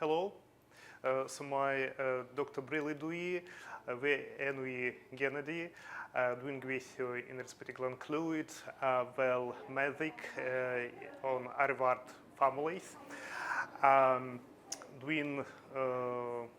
Helo, so mae uh, Dr Brili dwi, uh, fe enw i Gennedy, uh, dwi'n gweithio yn yr Ysbyty Glan Clwyd uh, fel meddyg uh, o'n arfart famolaeth. Um, dwi'n uh,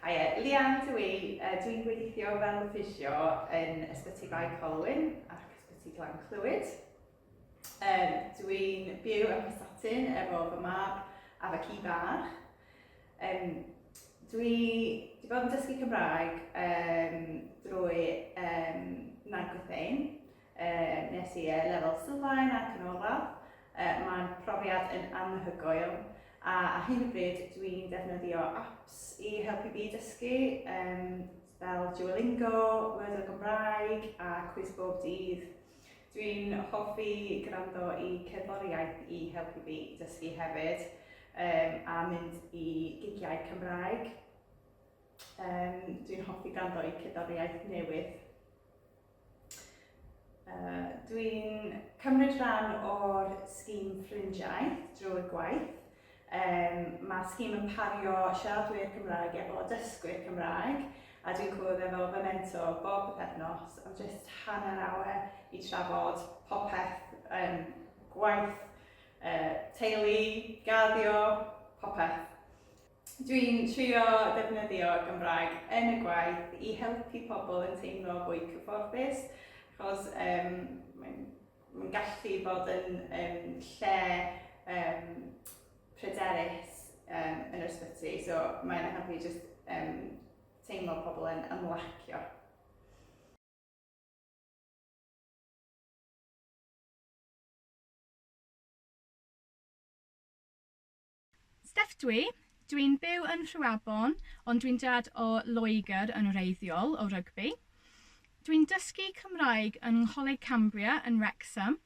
Haia, Lian dw i. Uh, Dwi'n gweithio fel ffisio yn Ysbyty Bae Colwyn ac Ysbyty Glan Clwyd. Um, Dwi'n byw yn Prestatyn efo fy mab a fy ci bach. Um, dwi wedi bod yn dysgu Cymraeg um, drwy um, Nag Wythein Wnes i y lefel sylfaen a'r canolradd. Mae'n profiad yn anhygoel a ar hyn o bryd dwi'n defnyddio apps i helpu fi dysgu fel Duolingo, Word o Gymraeg a Cwis Bob Dydd. Dwi'n hoffi gwrando i cerddoriaeth i helpu fi dysgu hefyd a mynd i gigiau Cymraeg. Dwi'n hoffi gwrando i cerddoriaeth newydd. Dwi'n cymryd rhan o'r sgîm Ffrindiaeth drwy gwaith. Um, Mae'r sgîm yn pario siaradwyr Cymraeg efo dysgwyr Cymraeg a dwi'n cwrdd efo fy mentor bob pethefnos am jyst hanner awr i trafod popeth, um, gwaith, uh, teulu, gaddio, popeth. Dwi'n trio defnyddio Gymraeg yn y gwaith i helpu pobl yn teimlo fwy cyfforddus, achos um, mae'n ma gallu bod yn um, lle um, pryderus um, yn yr ysbyty, so mae'n helpu just um, teimlo pobl yn ymlacio. Steff dw i. Dw i'n byw yn Rhiwabon, ond dwi'n dad o Loegr yn wreiddiol, o Rygbi. Dw i'n dysgu Cymraeg yng Ngholeg Cambria yn Wrecsam.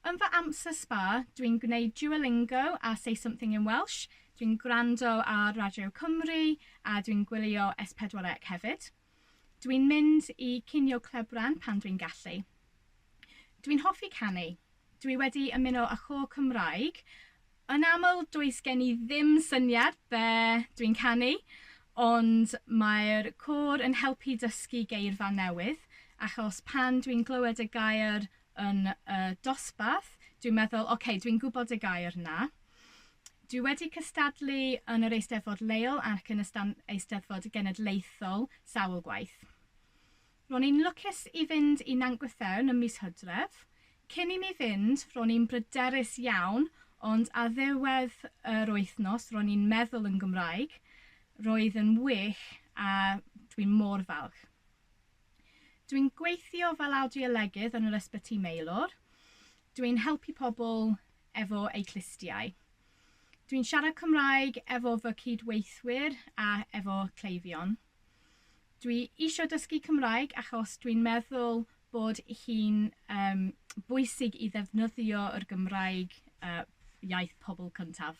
Yn fy amser sba, dw i'n gwneud Duolingo a Say Something in Welsh, dw i'n gwrando ar Radio Cymru a dw i'n gwylio S4C hefyd. Dwi'n mynd i cinio clebran pan dwi'n gallu. Dwi'n hoffi canu. Dwi wedi ymuno â chôr Cymraeg. Yn aml, does gen i ddim syniad be dwi'n canu, ond mae'r côr yn helpu dysgu geirfa newydd, achos pan dwi'n glywed y gair yn y dosbarth, dwi'n meddwl, ok, dwi'n gwybod y gair 'na. Dwi wedi cystadlu yn yr Eisteddfod leol ac yn y Eisteddfod Genedlaethol sawl gwaith. Ro'n i'n lwcus i fynd i Nant Gwythewn ym mis Hydref. Cyn i mi fynd, ro'n i'n bryderus iawn, ond ar ddiwedd yr wythnos ro'n i'n meddwl yn Gymraeg. Roedd yn wych a dwi'n mor falch. Dwi'n gweithio fel awdiolegydd yn yr Ysbyty Maelor. Dwi'n helpu pobl efo eu clustiau. Dwi'n siarad Cymraeg efo fy cyd-weithwyr a efo cleifion. Dwi eisiau dysgu Cymraeg achos dwi'n meddwl bod hi'n um, bwysig i ddefnyddio yr Gymraeg uh, iaith pobl cyntaf.